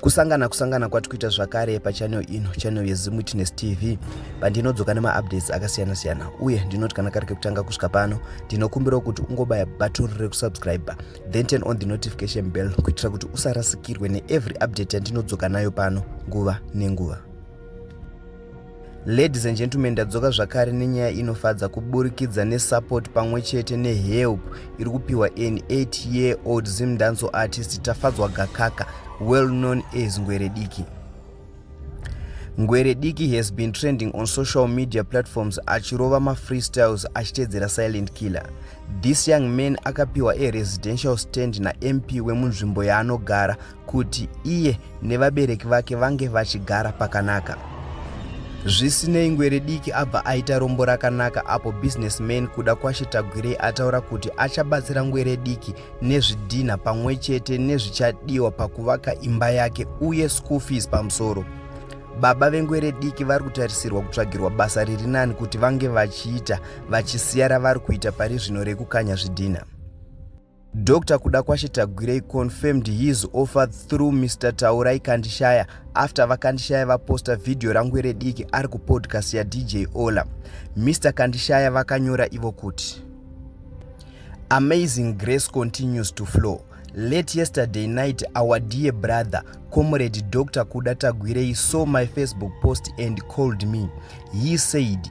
kusangana kusangana kwati kuita zvakare pachanel ino chanel yezim witness tv pandinodzoka nemaupdates akasiyana-siyana uye ndinoti kana kari kekutanga kusvika pano ndinokumbirawo kuti ungobaya button rekusubscribe then turn on the notification bell kuitira kuti usarasikirwe neevery update yandinodzoka nayo pano nguva nenguva Ladies and gentlemen, ndadzoka zvakare nenyaya inofadza kuburikidza nesupport pamwe chete nehelp iri kupiwa an 8 year old Zim Danso artist Tafadzwa Gakaka, well known as Ngwere Diki. Ngwere Diki has been trending on social media platforms achirova mafreestyles achitedzera Silent Killer. This young man akapiwa a residential stand naMP wemunzvimbo yaanogara kuti iye nevabereki vake vange vachigara pakanaka. Zvisinei ngwere diki abva aita rombo rakanaka apo businessman kuda kwashe tagwirei ataura kuti achabatsira ngwere diki nezvidhinha pamwe chete nezvichadiwa pakuvaka imba yake uye school fees pamusoro baba vengwere diki vari kutarisirwa kutsvagirwa basa riri nani kuti vange vachiita vachisiya ravari kuita pari zvino rekukanya zvidhinha Dr Kudakwashe Tagwirei confirmed his offer through Mr Taurai Kandishaya after vaKandishaya vaposta video rangwere diki ari kupodcast yaDJ Ola. Mr Kandishaya vakanyora ivo kuti Amazing grace continues to flow. Late yesterday night, our dear brother, Comrade Dr. Kuda Tagwirei, saw my Facebook post and called me. He said,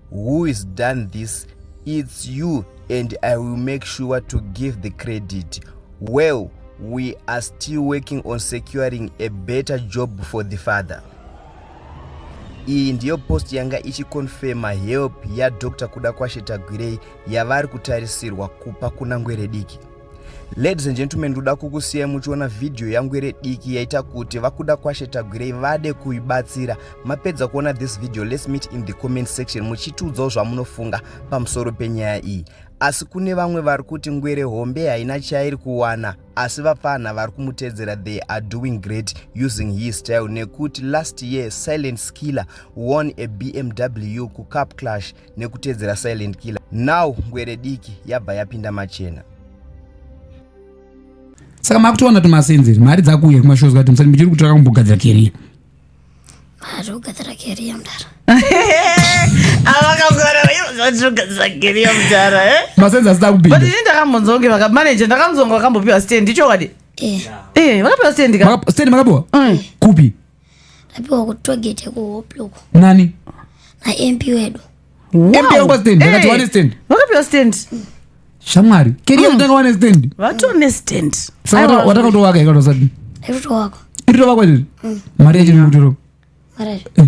who is done this it's you and i will make sure to give the credit well we are still working on securing a better job for the father iyi ndiyo post yanga ichikonfema help yadr kuda kwashe tagwirei yavari kutarisirwa kupa kuna ngwerediki Ladies and gentlemen, ndoda kukusiyai muchiona video yangu iri diki yaita kuti vakuda kwashe tagwirei vade kuibatsira. Mapedza kuona this video, let's meet in the comment section muchitiudzawo zvamunofunga pamusoro penyaya iyi. Asi kune vamwe vari kuti ngwere hombe haina chairi kuwana, asi vapfanha vari kumutedzera they are doing great using his style nekuti last year Silent Skiller won a BMW kuCup Clash nekuteedzera silent killer now ngwere diki yabva yapinda machena saka makutoona tumasenzeri mari dzakuuya kumashows kati musati muchiri kutora kumbogadzira keriya mari kugadzira keriya mdara masenzi asida kupinda ini ndakambonzonge vakamaneja ndakamzonga vakambopiwa stand ichokwadi eh. eh, vakapiwa stand ka stand makapiwa mm. kupi Apiwa ku togete ku hoploko. Nani? Na MP wedu. Wow. MP yangu stand, hey. Vakati wane stand. Vakapiwa stand. Shamwari. Kiri mm. yatanga wane stand. Vatu wane stand. Saka wataka to waka ikano sadi. Ekuto wako. Iri to wako iri. Mm. Mari yachini kutiro. Mari. Eh.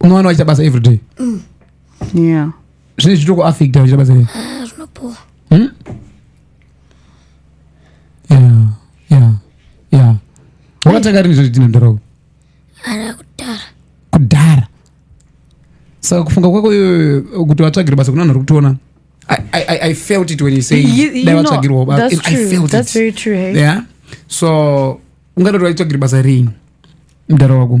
unowana waita basa every day mm. yeah. zvine zvitoko affect waita basa rei ah, zvinopuwa hmm? yeah. yeah. yeah. wakatanga rini zvoti tinondarau ara kudhara kudhara saka kufunga kwako kuti vatsvagire basa kuna vanhu vari kutiona I, I, I felt it when you say you, you know, that's true. I felt that's it. very true. Hey? Yeah. So, ungatotora itsvagire basa rini mdara wako